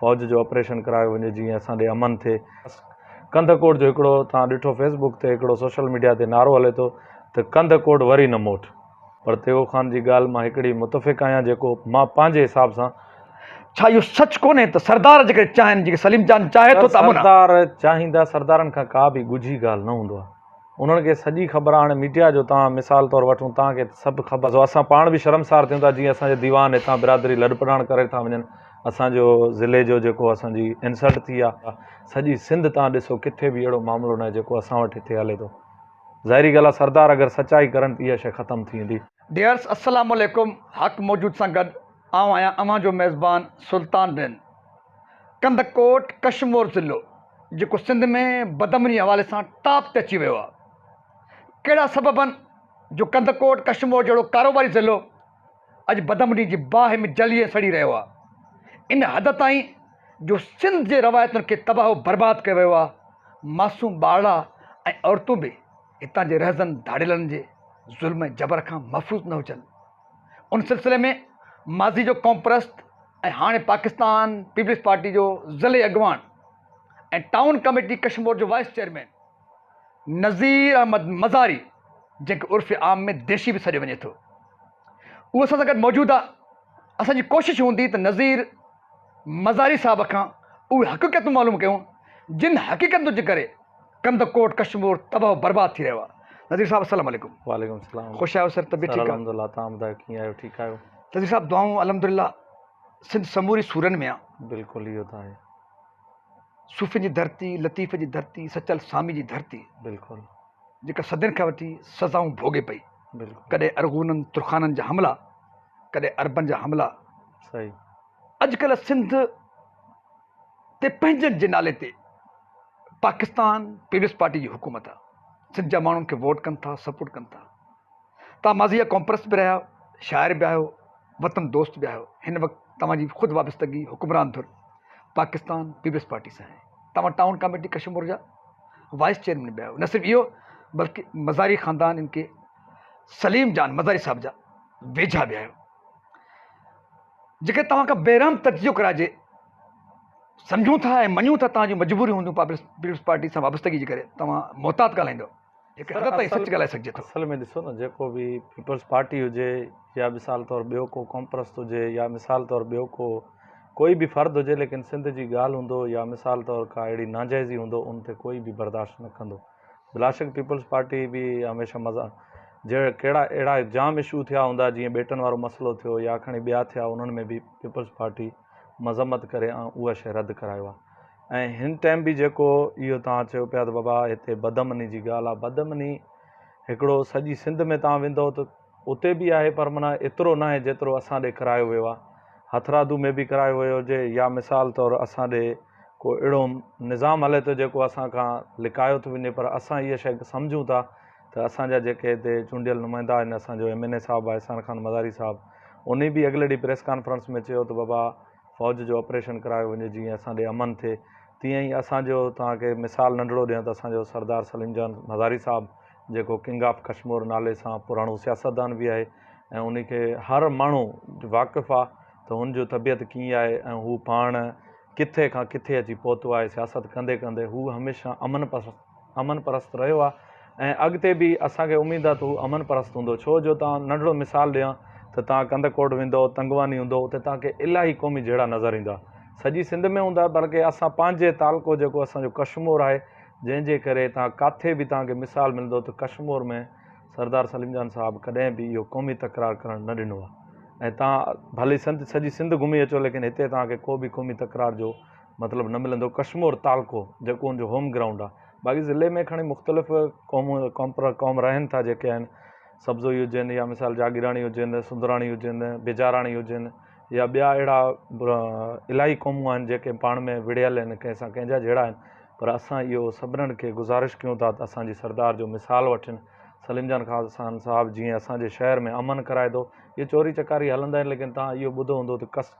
فوج جو آپريشن ڪرايو وڃي جيئن اسان ڏي امن ٿئي. ڪنڌ ڪوٽ جو هڪڙو توهان ڏٺو فيس بوڪ تي هڪڙو سوشل ميڊيا تي نعرو هلي ٿو ته ڪنڌ ڪوٽ وري نه موٽ پر تيغو خان جي ڳالهه مان هڪڙي متفق آهيان جيڪو مان پنهنجي حساب سان ڇا اهو سچ ڪونهي ته سردار جيڪي چاهن جيڪي سليم جان چاهي ٿو ته امن آ. سردار چاهيندا سردارن کان ڪا به ڳجهي ڳالهه نه هوندو آ. انهن کي سڄي خبر آهي هاڻي ميڊيا جو تان مثال طور وٺون تان کي سڀ خبر سو اسان پاڻ به شرمسار ٿيون ٿا جيئن اسان جا ديوان هتان برادري لڏپلاڻ ڪري ٿا وڃن اسان جو ضلعي جو جيڪو اسان جي انسلٽ ٿي آهي سڄي سنڌ تان ڏسو ڪٿي به اهڙو معاملو ناهي جيڪو اسان وٽ هتي هلي ٿو ظاهري ڳالهه آهي سردار اگر سچائي ڪرن ته اها شي ختم ٿي ويندي. ڊيئرس السلام عليڪم حق موجود سان گڏ آئون آهيان اوهان جو ميزبان سلطان بين. ڪنڌڪوٽ ڪشمور ضلعو جيڪو سنڌ ۾ بدامني حوالي سان ٽاپ تي اچي ويو آهي ڪهڙا سبب آهن جو ڪنڌڪوٽ ڪشمور جهڙو ڪاروباري ضلعو اڄ بدامني جي باهه ۾ جلي ۽ سڙي رهيو آهي ان حد تائين جو سنڌ جي روايتن کي تباهه و برباد ڪيو ويو آهي معصوم ٻارڙا ۽ عورتون به هتان جي رهزن ڌاڙيلن جي ظلم ۽ جبر کان محفوظ نه هجن ان سلسلي ۾ ماضي جو قومپرست ۽ هاڻي پاڪستان پيپلز پارٽي جو ضلعي اڳواڻ ۽ ٽائون ڪميٽي ڪشمور جو وائيس چيئرمين نذير احمد مزاري جنهن کي عرف عام ۾ ديشي به سڏيو وڃي ٿو اهو اسان سان گڏ موجود آ اسان جي ڪوشش هوندي ته نذير مزاري صاحب کان اهي حقيقتون معلوم ڪيون جن حقيقتن جي ڪري ڪنڌ ڪوٽ ڪشمور تباھ و برباد ٿي رهيو آ نظير صاحب السلام عليڪم. وعليڪم السلام خوش آهيو سر طبيعت سر ٺيڪ آ الحمد لله تهان ٻڌايو ڪيئن آهيو ٺيڪ آهيو. نظير صاحب دعائون الحمدلله سنڌ سموري سورن ۾ آ. بلڪل اهو ته آهي. صوفين جي ڌرتي، لطيف جي ڌرتي، سچل سامي جي ڌرتي. بلڪل. جيڪا صدين کان وٺي سزائون ڀوڳي پئي. بلڪل. ڪڏهن ارغونن ترخانن جا حملا، ڪڏهن عربن جا حملا. صحيح. اڄ ڪلهه سنڌ. تي پنهنجن جي نالي تي پاڪستان پيپلز پارٽي جي حڪومت آ سنڌ جا ماڻهن کي ووٽ ڪن ٿا سپورٽ ڪن ٿا تان ماضيء ڪومپرست به رهيا شاعر به آهيو وطن دوست به آهيو هن وقت توهان جي خود وابستگي حڪمران ڌر پاڪستان پيپلز پارٽي سان آهي توهان ٽائون ڪاميٽي ڪشمور جا وائس چيئرمين به آهيو نه صرف اهو بلڪه مزاري خاندان ان کي سليم جان مزاري صاحب جا ويجها به آهيو جيڪڏهن توهان کان بيرحم تجزيو ڪرائجي، سمجهون ٿا ۽ مڃون ٿا ته توهان جون مجبوريون هونديون پيپلز پارٽي سان وابستگي جي ڪري توهان محتاط ڳالهائيندؤ، هڪ حد تائين سچ ڳالهائي سگهجي ٿو. اصل ۾ ڏسو نه جيڪو به پيپلز پارٽي هجي يا مثال طور ٻيو ڪو قومپرست هجي يا مثال طور ٻيو ڪو ڪوئي به فرد هجي ليڪن سنڌ جي ڳالهه هوندو يا مثال طور ڪا اهڙي ناجائزي هوندو ان تي ڪوئي به برداشت نه ڪندو. بلاشڪ پيپلز پارٽي به هميشه مزا جهڙا ڪهڙا اهڙا جام اشو ٿيا هوندا جيئن ٻيٽن وارو مسئلو ٿيو يا کڻي ٻيا ٿيا انهن ۾ به پيپلز پارٽي مذمت ڪري ۽ اهو شي رد ڪرايو آهي ۽ هن ٽائيم به جيڪو اهو توهان چيو پيا ته بابا هتي بدامني جي ڳالهه آهي بدامني هڪڙو سڄي سنڌ ۾ توهان ويندو ته اتي به آهي پر معنيٰ ايترو ناهي جيترو اسان ڏي ڪرايو ويو آهي. هٿرادو ۾ به ڪرايو ويو هجي يا مثال طور اسان ڏي ڪو اهڙو نظام هلي ٿو جيڪو اسان کان لڪايو ٿو وڃي پر اسان اها شيء سمجهون ٿا ته اسان جا جيڪي هتي چونڊيل نمائندا آهن اسان جو ايم اين اي صاحب احسان خان مزاري صاحب انهي به اڳلي ڏينهن پريس ڪانفرنس ۾ چيو ته بابا فوج جو آپريشن ڪرايو وڃي جيئن اسان ڏي امن ٿئي تيئن ئي اسان جو توهان کي مثال ننڍڙو ڏيان ته اسان جو سردار سليم جان مزاري صاحب جيڪو ڪنگ آف ڪشمور نالي سان پراڻو سياستدان به آهي ۽ ان کي هر ماڻهو واقف آهي ته هن جو طبيعت ڪيئن آهي ۽ هو پاڻ ڪٿي کان ڪٿي اچي پهتو آهي سياست ڪندي ڪندي هو هميشه امن پسند امن پرست رهيو آهي ۽ اڳتي به اسان کي اميد آهي ته هو امن پرست هوندو ڇو جو تان ننڍڙو مثال ڏيان ته تان ڪنڌڪوٽ ويندو تنگواني هوندو اتي تان کي الاهي قومي جهيڙا نظر ايندا سڄي سنڌ ۾ هوندا بلڪه اسان پنهنجي تعلقو جيڪو اسان جو ڪشمور آهي جنهن جي ڪري توهان ڪاٿي به توهان کي مثال ملندو ته ڪشمور ۾ سردار سليم جان صاحب ڪڏهن به اهو قومي تڪرار ڪرڻ نه ڏنو آهي ۽ توهان ڀلي سنڌ سڄي سنڌ گهمي اچو ليڪن هتي توهان کي ڪو به قومي تڪرار جو مطلب نه ملندو ڪشمور تعلقو جيڪو ان جو هوم گرائونڊ آهي باقي ضلعي ۾ کڻي مختلف قوم قوم پر قوم رهن ٿا جيڪي آهن سبزوئي هجن يا مثال جاگيراڻي هجن سندراڻي هجن بيجاراڻي هجن يا ٻيا اهڙا الاهي قومون آهن جيڪي پاڻ ۾ وڙهيل آهن ڪنهن سان ڪنهن جا جهيڙا آهن پر اسان اهو سڀنڻ کي گذارش ڪيون ٿا ته اسان جي سردار جو مثال وٺن. سليم جان خان صاحب جيئن اسان جي شهر ۾ امن ڪرائي ٿو. اهي چوري چڪاري هلندا آهن ليڪن توهان اهو ٻڌو هوندو ته ڪس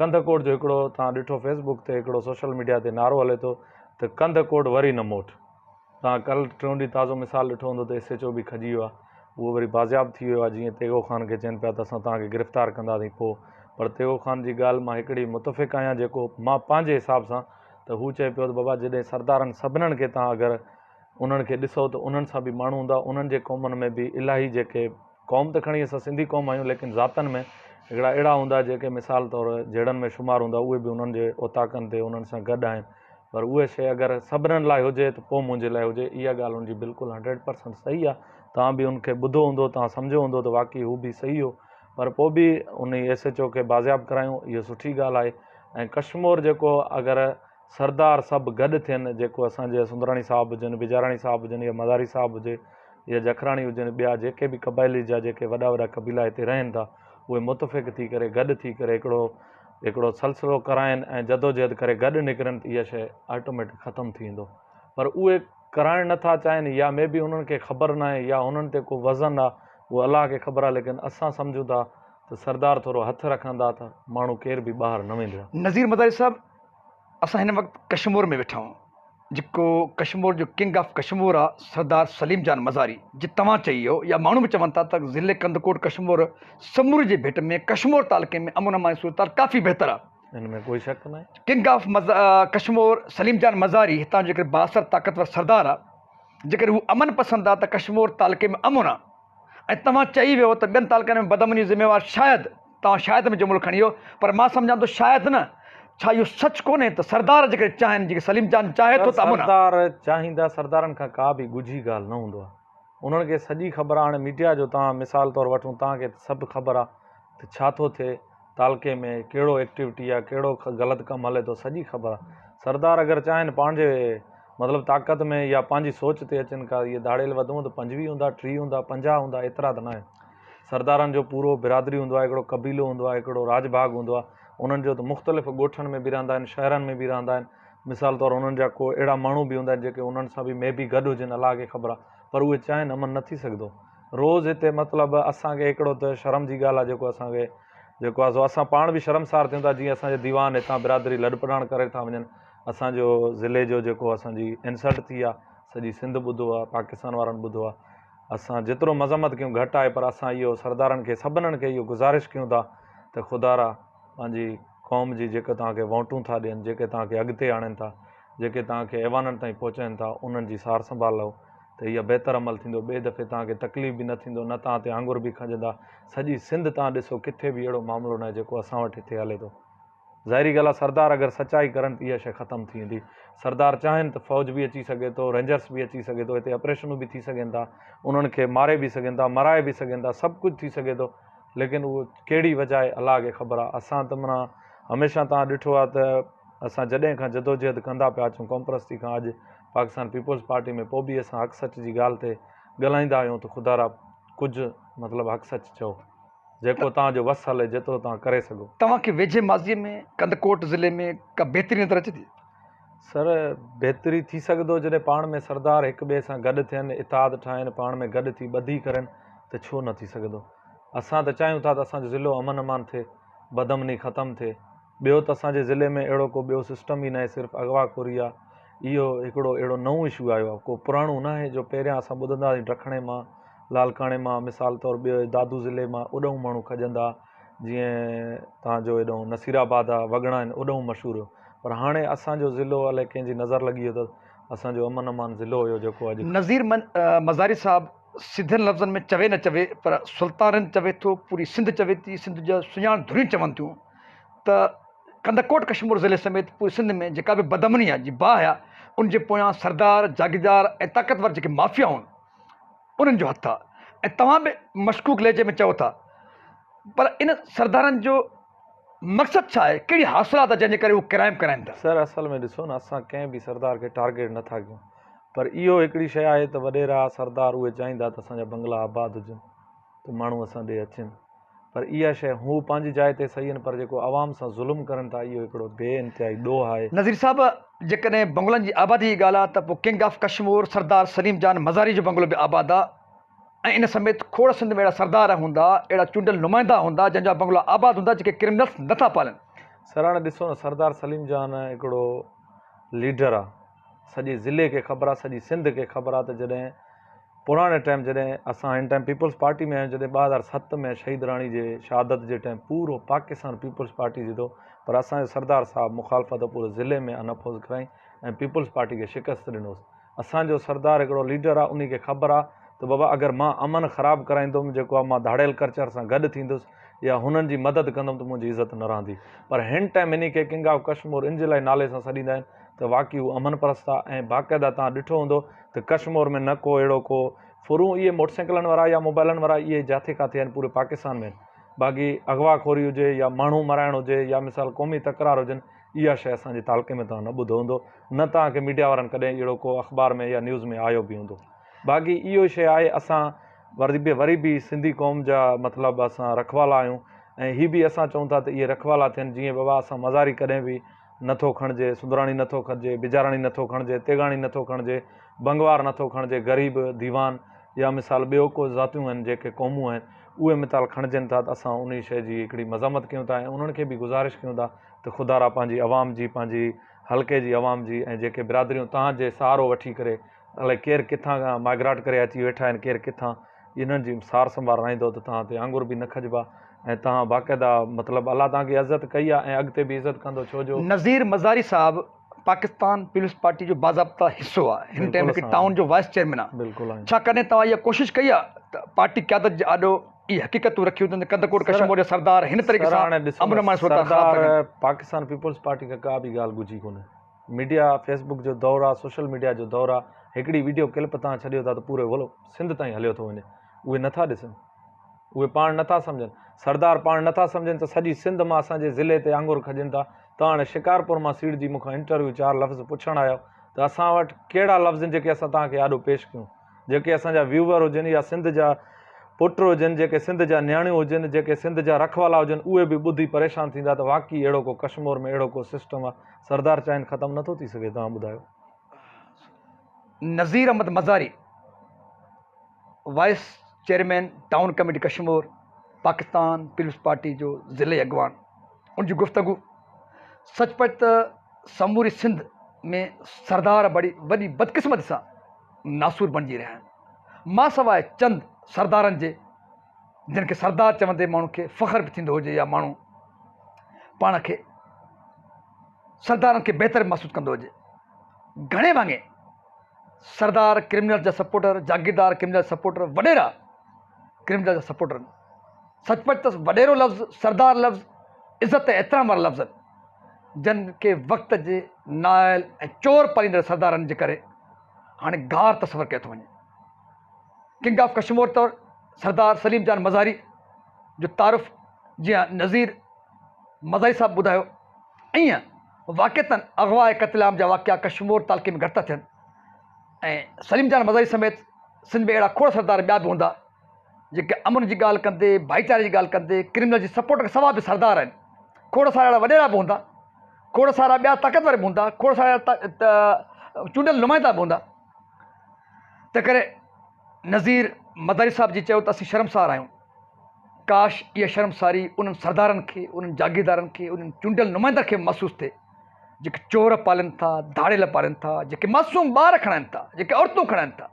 ڪنڌ ڪوٽ جو هڪڙو توهان ڏٺو فيس بوڪ تي هڪڙو سوشل ميڊيا تي نعرو هلي ٿو ته ڪنڌ ڪوٽ وري نه موٽ. توهان ڪل ٽيون ڏينهن تازو مثال ڏٺو هوندو ته ايس ايڇ او به کڄي ويو آهي اهو وري بازياب ٿي ويو آهي جيئن تيغو خان کي چين پيا ته اسان توهان کي گرفتار ڪنداسين پوء پر تيغو خان جي ڳالهه مان هڪڙي متفق آهيان جيڪو مان پنهنجي حساب سان ته هو چئي پيو ته بابا جڏهن سردارن سڀنڻ کي تهان اگر انهن کي ڏسو ته انهن سان به ماڻهو هوندا انهن جي قومن ۾ به الاهي جيڪي قوم ته کڻي اسان سنڌي قوم آهيون ليڪن ذاتن ۾ هڪڙا اهڙا هوندا جيڪي مثال طور جهڙن ۾ شمار هوندا اهي به انهن جي اوطاقن تي انهن سان گڏ آهن پر اهي شي اگر سڀنڻ لاء هجي ته پوء منهنجي لاء هجي اها ڳالهه ان جي بلڪل هنڊريڊ پرسنٽ صحيح آهي تهان به ان کي ٻڌو هوندو تهان سمجهيو هوندو ته واقعي هو به صحيح هو پر پوء به انهي ايس ايچ او کي بازياب ڪرايون اهو سٺي ڳالهه آهي ۽ ڪشمور جيڪو اگر سردار سڀ گڏ ٿين جيڪو اسان جي سندراڻي صاحب هجن بجاراڻي صاحب هجن يا مزاري صاحب هجي يا جکراڻي هجن ٻيا جيڪي به قبائلي جا جيڪي وڏا وڏا قبيلا هتي رهن ٿا اهي متفق ٿي ڪري گڏ ٿي ڪري هڪڙو هڪڙو سلسلو ڪرائين ۽ جدوجهد ڪري گڏ نڪرن ته اها شيء آٽوميٽڪ ختم ٿي ويندو. پر اهي ڪرائڻ نه ٿا چاهين يا مي بي انهن کي خبر ناهي يا انهن تي ڪو وزن آ اهو الله کي خبر آ ليڪن اسان سمجهون ٿا ته سردار ٿورو هٿ رکندا ته ماڻهو ڪير به ٻاهر نه ويندڙ. نظير مزاري صاحب اسان هن وقت ڪشمور ۾ ويٺا آهيون جيڪو ڪشمور جو ڪنگ آف ڪشمور آ سردار سليم جان مزاري جي توهان چئي هو يا ماڻهو به چون ٿا ته ضلعي ڪنڌڪوٽ ڪشمور سموري جي ڀيٽ ۾ ڪشمور تعلقي ۾ امن امان جي صورتحال ڪافي بهتر آ ان ۾ ڪوئي شڪ ناهي. ڪنگ آف ڪشمور سليم جان مزاري هتان جو جيڪڏهن بااثر طاقتور سردار آ جيڪڏهن هو امن پسند آ ته ڪشمور تعلقي ۾ امن آ ۽ توهان چئي ويو ته ٻين تعلقن ۾ بدامني جو ذميوار شايد توهان شايد ۾ جملو کڻي ويو پر مان سمجهان ٿو شايد نه ڇا اهو سچ ڪونهي ته سردار جيڪڏهن چاهن جيڪڏهن سليم جان چاهي ٿو ته امن آ. سردار چاهيندا سردارن کان ڪا به ڳجهي ڳالهه نه هوندو آ. انهن کي سڄي خبر آ هاڻي ميڊيا جو تان مثال طور وٺون تان کي سڀ خبر آ ته ڇا ٿو ٿئي تعلقي ۾ ڪهڙو ايڪٽيوٽي آ ڪهڙو غلط ڪم هلي ٿو سڄي خبر آ سردار اگر چاهين پانهنجي مطلب طاقت ۾ يا پانهنجي سوچ تي اچن ڪا اهي ڌاڙيل وڌون ته پنجويهه هوندا ٽيهه هوندا پنجاهه هوندا ايترا ته ناهن سردارن جو پورو برادري هوندو آ هڪڙو قبيلو هوندو آ هڪڙو راڄ ڀاڳ هوندو آ انهن جو ته مختلف ڳوٺن ۾ به رهندا آهن شهرن ۾ به رهندا آهن مثال طور انهن جا ڪو اهڙا ماڻهو به هوندا آهن جيڪي انهن سان به مي بي گڏ هجن الله کي خبر آهي پر اهي چاهين امن نه ٿي سگهندو روز هتي مطلب اسان کي هڪڙو ته شرم جي ڳالهه آهي جيڪو اسان کي جيڪو آهي سو اسان پاڻ به شرمسار ٿيون ٿا جيئن اسان جا ديوان هتان برادري لڏپلاڻ ڪري ٿا وڃن اسان جو ضلعي جو جيڪو اسان جي انسلٽ ٿي آهي سڄي سنڌ ٻڌو آهي پاڪستان وارن ٻڌو آهي اسان جيترو مذمت ڪيون گهٽ آهي پر اسان اهو سردارن کي سڀنن کي اهو گذارش ڪيون ٿا ته خدارا پنهنجي قوم جي جيڪي توهان کي ووٽون ٿا ڏين، جيڪي توهان کي اڳتي آڻين ٿا، جيڪي توهان کي ايوانن تائين پهچائين ٿا، انهن جي سار سنڀال لئو ته اها بهتر عمل ٿيندو، ٻئي دفعي توهان کي تڪليف به نه ٿيندو، نه توهان تي آڱر به کنجندا، سڄي سنڌ توهان ڏسو ڪٿي به اهڙو معاملو ناهي جيڪو اسان وٽ هتي هلي ٿو. ظاهري ڳالهه آهي سردار اگر سچائي ڪرن ته اها شيء ختم ٿي ويندي، سردار چاهين ته فوج به اچي سگهي ٿو، رينجرس به اچي سگهي ٿو، هتي آپريشنون به ٿي سگهن ٿا، انهن کي ماري به سگهن ٿا، مرائي به سگهن ٿا، سڀ ڪجهه ٿي سگهي ٿو، ليڪن اهو ڪهڙي وجهه آهي الله کي خبر آهي اسان ته منا هميشه تان ڏٺو آهي ته اسان جڏهن کان جدوجهد ڪندا پيا اچون قوم پرستي کان اڄ پاڪستان پيپلز پارٽي ۾ پوء به اسان حق سچ جي ڳالهه تي ڳالهائيندا آهيون ته خدا را ڪجهه مطلب حق سچ چئو جيڪو توهان جو وس هلي جيترو توهان ڪري سگهو. توهان کي ويجهي ماضي ۾ ڪنڌڪوٽ ضلعي ۾ ڪا بهترين نظر اچي ٿي؟ سر، بهتر ئي ٿي سگهندو جڏهن پاڻ ۾ سردار هڪ ٻئي سان گڏ ٿين، اتحاد ٺاهين، پاڻ ۾ گڏ ٿي ٻڌي ڪرين ته ڇو نه ٿي سگهندو. اسان ته چاهيون ٿا ته اسان جو ضلعو امن امان ٿئي، بدامني ختم ٿئي. ٻيو ته اسان جي ضلعي ۾ اهڙو ڪو ٻيو سسٽم ئي ناهي صرف اغوا خوري آ. اهو هڪڙو اهڙو نئون اشو آيو آ، ڪو پراڻو ناهي جو پهريان اسان ٻڌندا هئاسين ڊکڻي مان، لاڙڪاڻي مان، مثال طور ٻيو دادو ضلعي مان اڏهون ماڻهو کڄندا ها. جيئن توهان جو هيڏانهن نصير آباد آ، وڳڻا آهن اوڏانهن مشهور هيو پر هاڻي اسان جو ضلعو الائي ڪنهن جي نظر لڳي ويو ته اسان جو امن امان ضلعو هيو جيڪو اڄ. نظير مزاري صاحب سڌن لفظن ۾ چوي نه چوي پر سلطان رند چوي ٿو، پوري سنڌ چوي ٿي، سنڌ جا سڃاڻ ڌريون چون ٿيون ته ڪنڌڪوٽ ڪشمور ضلعي سميت پوري سنڌ ۾ جيڪا به بدامنيء جي باهه آ ان جي پويان سردار، جاگيردار ۽ طاقتور جيڪي مافيا هئا، انهن جو هٿ آ ۽ توهان به مشڪوڪ لهجي ۾ چئو ٿا پر ان سردارن جو مقصد ڇا آهي ڪهڙي حاصلات آ جنهن جي ڪري هو ڪرائم ڪرائين ٿا. سر اصل ۾ ڏسو نه اسان ڪنهن به سردار کي ٽارگيٽ نه ٿا ڪيون پر اهو هڪڙي شئي آهي ته وڏيرا سردار اهي چاهيندا ته اسان جا بنگلا آباد هجن ته ماڻهو اسان ڏي اچن. پر اها شيء هو پنهنجي جاء تي صحيح آهن پر جيڪو عوام سان ظلم ڪرن ٿا اهو هڪڙو بي انتهائي ڏوهه آهي. نظير صاحب جيڪڏهن بنگلن جي آبادي جي ڳالهه آ ته پو ڪنگ آف ڪشمور سردار سليم جان مزاري جو بنگلو به آباد آ ۽ ان سميت کوڙ سنڌ ۾ اهڙا سردار هوندا اهڙا چونڊيل نمائندا هوندا جن جا بنگلا آباد هوندا جيڪي ڪرمنلس نٿا پالن. سراڻ ڏسو نه سردار سليم جان هڪڙو ليڊر آ. سڄي ضلعي کي خبر آ سڄي سنڌ کي خبر آ ته جڏهن پراڻي ٽائيم جڏهن اسان هن ٽائيم پيپلز پارٽي ۾ آهيون جڏهن ٻه هزار ست ۾ شهيد راڻي جي شهادت جي ٽائيم پورو پاڪستان پيپلز پارٽي جيتو پر اسان جو سردار صاحب مخالفت پوري ضلعي ۾ ان اپوز ڪرائين ۽ پيپلز پارٽي کي شڪست ڏنوس اسان جو سردار هڪڙو ليڊر آ انهي کي خبر آ ته بابا اگر مان امن خراب ڪرائيندم جيڪو آ مان ڌاڙيل ڪرچر سان گڏ ٿيندس يا هنن جي مدد ڪندم ته منهنجي عزت نه رهندي. پر هن ٽائيم انهي کي ڪنگ آف ڪشمور ان جي لاء نالي سان سڏيندا آهن ته واقعي هو امن پرست آ ۽ باقاعده توهان ڏٺو هوندو ته ڪشمور ۾ نه ڪو اهڙو ڪو ڦرون اهي موٽر سائيڪلن وارا يا موبائلن وارا اهي جاٿي ڪاٿي آهن پوري پاڪستان ۾ آهن باقي اغوا خوري هجي يا ماڻهو مارائڻ هجي يا مثال قومي تڪرار هجن اها شئي اسان جي تعلقي ۾ توهان نه ٻڌو هوندو نه توهان کي ميڊيا وارن ڪڏهن اهڙو ڪو اخبار ۾ يا نيوز ۾ آيو به هوندو باقي اهو شئي آهي اسان وري به وري به سنڌي قوم جا مطلب اسان رکوالا آهيون ۽ هي به اسان چئون ٿا ته اهي رکوالا ٿين جيئن بابا اسان مزاري ڪڏهن به نه ٿو کڻجي سندراڻي نه ٿو کڄي بجاراڻي نه ٿو کڻجي تيغاڻي نه ٿو کڻجي بنگوار نه ٿو کڻجي غريب ديوان يا مثال ٻيو ڪو ذاتيون آهن جيڪي قومون آهن اهي متال کڻجين ٿا ته اسان انهي شئي جي هڪڙي مذمت ڪيون ٿا ۽ انهن کي به گذارش ڪيون ٿا ته خدارا پنهنجي عوام جي پنهنجي حلقي جي عوام جي ۽ جيڪي برادريون تهان جي سهارو وٺي ڪري الائي ڪير ڪٿان کان مائگراٽ ڪري اچي ويٺا آهن ڪير ڪٿان انهن جي سار سنڀال رهندو ته توهان تي آڱر به نه کڄبا ۽ توهان باقاعده مطلب الله توهان کي عزت ڪئي آهي ۽ اڳتي به عزت ڪندو ڇو جو نظير مزاري صاحب پاڪستان پيپلز پارٽي جو باضابطه حصو آهي هن ٽائيم هڪ ٽائون جو وائيس چيئرمين آهي ڇا ڪڏهن توهان اها ڪوشش ڪئي آهي ته پارٽي قيادت جي آڏو اهي حقيقتون رکيون اٿن ته ڪنڌڪوٽ ڪشمور جا سردار هن طريقي سان امن امان جي صورتحال خراب ٿا ڪن. پاڪستان پيپلز پارٽي کان ڪا به ڳالهه ڳجهي ڪونهي. ميڊيا، فيس بڪ جو دور آ، سوشل ميڊيا جو دور آ، هڪڙي ويڊيو ڪلپ تهان ڇڏيو ٿا ته پوري ولو سنڌ تائين هليو ٿو وڃي، اهي نٿا ڏسن، اهي پاڻ نٿا سمجهن، سردار پاڻ نٿا سمجهن ته سڄي سنڌ مان اسان جي ضلعي تي آڱر کڄن ٿا، ته هاڻي شڪارپور مان سيڙجي مون کان انٽرويو چار لفظ پڇڻ آيو ته اسان وٽ ڪهڙا لفظ آهن جيڪي اسان تهان کي آڏو پيش ڪيون. جيڪي اسان جا ويوور هجن يا سنڌ جا پٽ هجن جيڪي سنڌ جا نياڻيون هجن جيڪي سنڌ جا رکوالا هجن اهي به ٻڌي پريشان ٿيندا ته واقعي اهڙو ڪو ڪشمور ۾ اهڙو ڪو سسٽم آ سردار چاهين ختم نٿو ٿي سگهي توهان ٻڌايو Nazir Ahmed Mazari vice chairman town committee Kashmore Pakistan peoples Party جو ضلعي اڳواڻ ان جي گفتگو سچ پچ ته سموري سنڌ ۾ سردار بڙي وڏي بدقسمتي سان ناسور بڻجي رهيا آهن، مان سواء چند سردارن جي، جن کي سردار چوندي ماڻهن کي فخر به ٿيندو هجي يا ماڻهو پاڻ کي سردارن کي بهتر به محسوس ڪندو هجي. گهڻي ڀاڱي سردار ڪرمنلز جا سپورٽر، جاگيردار ڪرمنلز جا سپورٽر، وڏيرا ڪرمنلز جا سپورٽر آهن. سچ پچ ته وڏيرو لفظ، سردار لفظ عزت ۽ احترام وارا لفظ آهن. جن کي وقت جي نااهل ۽ چور پاليندڙ سردارن جي ڪري هاڻي گار تصور ڪيو ٿو وڃي. ڪنگ آف ڪشمور طور سردار سليم جان مزاري جو تعارف جيئن نذير مزاري صاحب ٻڌايو ائين واقعتن اغوا ۽ قتل عام جا واقعا ڪشمور تعلقي ۾ گهٽ ٿا ٿين ۽ سليم جان مزاري سميت سنڌ ۾ اهڙا کوڙ سردار ٻيا به هوندا جيڪي امن جي ڳالهه ڪندي، ڀائيچاري جي ڳالهه ڪندي، ڪرمينل جي سپورٽ کان سواء به سردار آهن. کوڙ سارا اهڙا وڏيرا به هوندا، کوڙ سارا ٻيا طاقتور به هوندا، کوڙ سارا اهڙا چونڊيل نمائندا به هوندا. تنهنڪري نذير مزاري صاحب جي چيو ته اسين شرمسار آهيون. ڪاش اها شرمساري انهن سردارن کي، انهن جاگيردارن کي، انهن چونڊيل نمائندن کي به محسوس ٿئي، جيڪي چور پالين ٿا، ڌاڙيل پالين ٿا، جيڪي معصوم ٻار کڻائين ٿا، جيڪي عورتون کڻائين ٿا.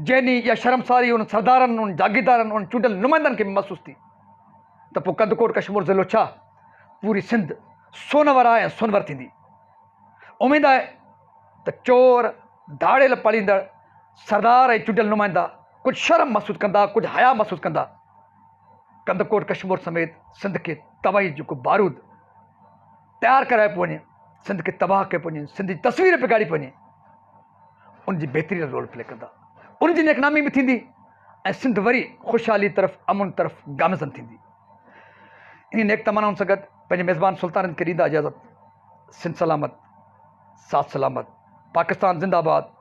جنهن ڏينهن اها شرمساري انهن سردارن، انهن جاگيردارن، انهن چونڊيل نمائندن کي به محسوس ٿي ته پوء ڪنڌڪوٽ ڪشمور ضلعو ڇا پوري سنڌ سونور آهي ۽ سونور ٿيندي. اميد آهي ته چور، ڌاڙيل پاليندڙ سردار ۽ چونڊيل نمائندا ڪجهه شرم محسوس ڪندا، ڪجهه حياء محسوس ڪندا. ڪنڌڪوٽ ڪشمور سميت سنڌ کي تباهي جو ڪو بارود تيار ڪرايو پيو وڃي، سنڌ کي تباهه ڪيو پيو وڃي، سنڌ جي تصوير بگاڙي پيو وڃي. ان جي بهترين رول پلي ڪندا، ان جي نيڪنامي به ٿيندي ۽ سنڌ وري خوشحالي طرف امن طرف گامزن ٿيندي. انهي نيڪ تمنائن سان گڏ پنهنجي ميزبان سلطانت کي ڏيندا اجازت سنڌ سلامت ساٿ سلامت پاڪستان زنده آباد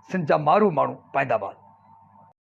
سنڌ جا مارو ماڻهو پائندا باد.